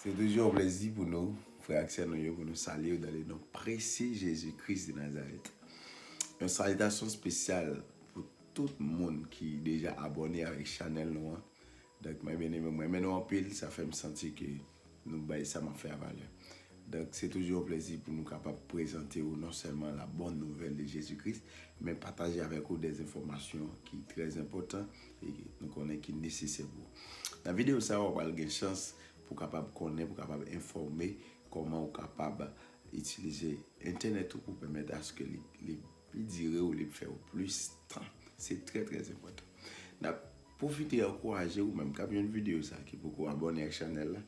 Se toujou yon plezi pou nou, frè ak sè nou yo, pou nou salye ou dan le non presye Jezi Kris de Nazarèt. Yon salitasyon spesyal pou tout moun ki deja abòne avèk chanèl nou an. Donk mwen byen eme, mwen renmen nou anpil, sa fè m santi ke nou bay sa m ap fè a valè. Donk, se toujou yon plezi pou nou kapab prezante ou non sèlman la bòn nouvèl de Jezi Kris, men pataje avèk ou dè enfòmasyon ki trè enpòtan e nou konnen ki nesesè pou ou. Nan videyo sa a, ou pral gen chans pou w kapab konnen, pou w kapab enfòme kòman ou kapab itilize entènèt ou pou pèmèt aske li pi dire ou, li fè ou plis tan. Se trè trè enpòtan. N ap pwofite ankouraje ou menm k ap jwenn videyo sa a ki poko abòne ak chanèl la,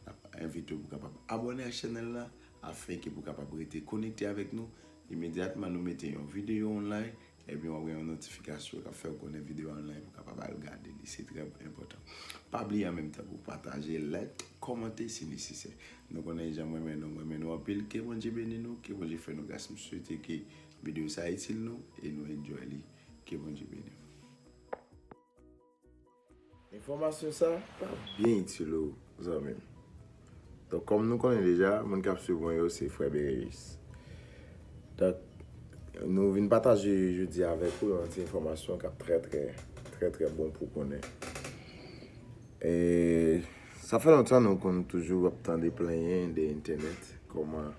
Nap envite w pou kapab abòne ak chanèl la afin ke pou kapab rete konekte avèk nou imedyatman nou mete yon videyo online ebyen wap gen yon notifikasyon kap fèw konnen videyo online pou kapab al gade li se trè enpòtan pa bliye an menm tan pou pataje like kòmante si nesesè nou konnen janm renmen nou m renmen nou anpil ke Bondye beni nou ke Bondye fè nou gras m swete ke videyo sa itil nou e nou enjoy li ke Bondye beni nou. Enfòmasyon sa pa byen itil ou zanmi m. Donk kòm nou konnen deja moun kap swiv mwen yo se frè Bereyis. Donk nou vin pataje jodi a avèk ou yon ti enfòmasyon kap trè trè trè trè bon pou konnen. Sa fè lontan nou konn toujou ap tande plenyen de entènèt kòman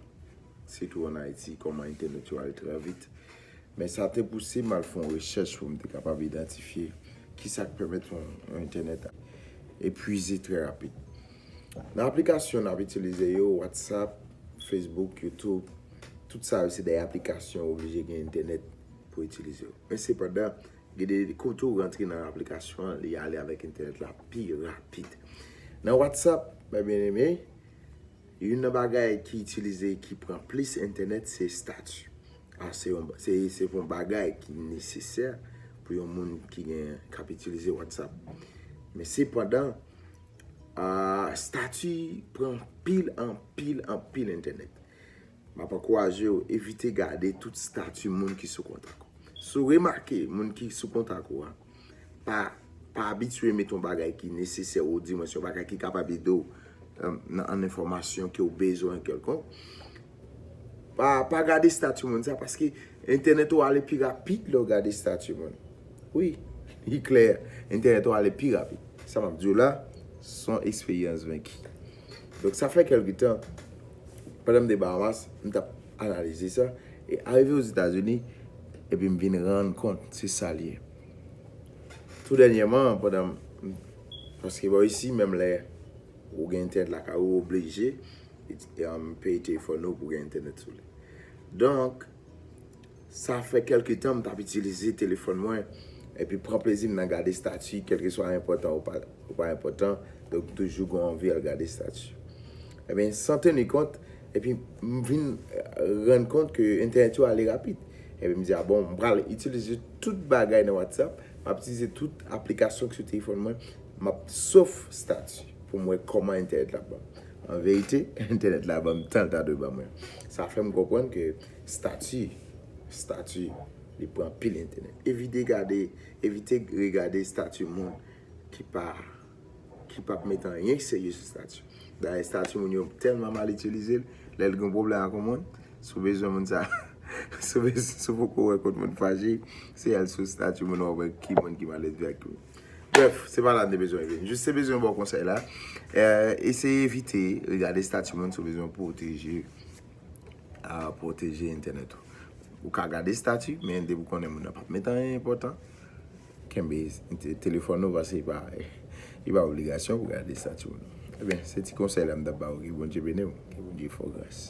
sitou an Ayiti kòman entènèt yo al trè vit. Men sa te pouse m al fè yon rechèch pou m te kapab idantifye ki sa k pèmèt yon entènèt epwize trè rapid. Nan aplikasyon n ap itilize yo, Whatsapp, Facebook, YouTube, tout sa yo se de aplikasyon ou oblije gen entènèt pou itilize yo. Men sepandan, gen de kote ou rantre nan aplikasyon an, li ale avèk entènèt la pi rapid. Nan Whatsapp, mè byeneme, Youn nan bagay ki itilize ki pran plis entènèt se stati. Se yon bagay ki nesesè pou yon moun ki gen kap itilize WhatsApp. Men se pandan stati pran pil anpil anpil entènèt. M ap ankouraje ou evite gade tout stati moun ki sou kontak ou. Si w remake moun ki sou kontak ou a pa abitye mete yon bagay ki nesesè ou di mwen se yon bagay ki kapab ede w nan an enfòmasyon ke w bezwen kèlkonk, pa gade stati moun sa paske entènèt ou ale pi rapid lè w gade stati moun. Wi, li klè entènèt ou ale pi rapid. Sa m ap di w la son eksperyans venki. Donk sa fè kèlke tan, pandan m te Bahamas, m t ap analize sa, e arive Ozetazini, epi m vin rann kont se sa l ye. Tou dènyèman, pandan m, paske bò isi menm lè ou gen entènèt lakay ou, ou oblije peye telefòn ou pou gen entènèt sou li. Donk, Sa fè kèlke tan m t ap itilize telefòn mwen epi pran plezi m nan gade stati kèlkeswa l enpòtan ou pa enpòtan, donk toujou gen w anvi al gade stati. Ebyen san teni kont epi m vin rann kont ke entènèt yo ale rapid epi m di a bon m pral itilize tout bagay nan whatsapp, m ap itilize tout aplikasyon ki sou telefòn mwen, m ap sof stati pou m wè kòman entènèt la ap ban m. An verite entènèt la ban m tan l ta dwe ban mwen. Sa fè m konprann ke. Stati, stati, li pran anpil entènèt. Evite gade, evite regade stati moun ki pa, ki pap met anyen serye sou stati. Dayè stati moun yo tèlman mal itilize l, lè l gen yon pwoblèm ak yon moun, si w bezwen moun sa, si w bez, si w poko wè kot moun fache, se al sou stati moun wap wè ki moun ki malelve ak ki moun. Brèf, se pa la m te bezwen rive. M jis te bezwen ba w konsèy la, eseye evite regade stati moun si w bezwen pwoteje pwoteje entènèt ou. Ou ka gade stati, men depi ou konnen moun nan pap met anyen enpòtan, kenbe telefòn ou pase e pa obligasyon pou gade stati moun. Ebyen, se ti konsèy la m ta ba ou. Ke Bondye beni ou. Ke Bondye fè ou gras.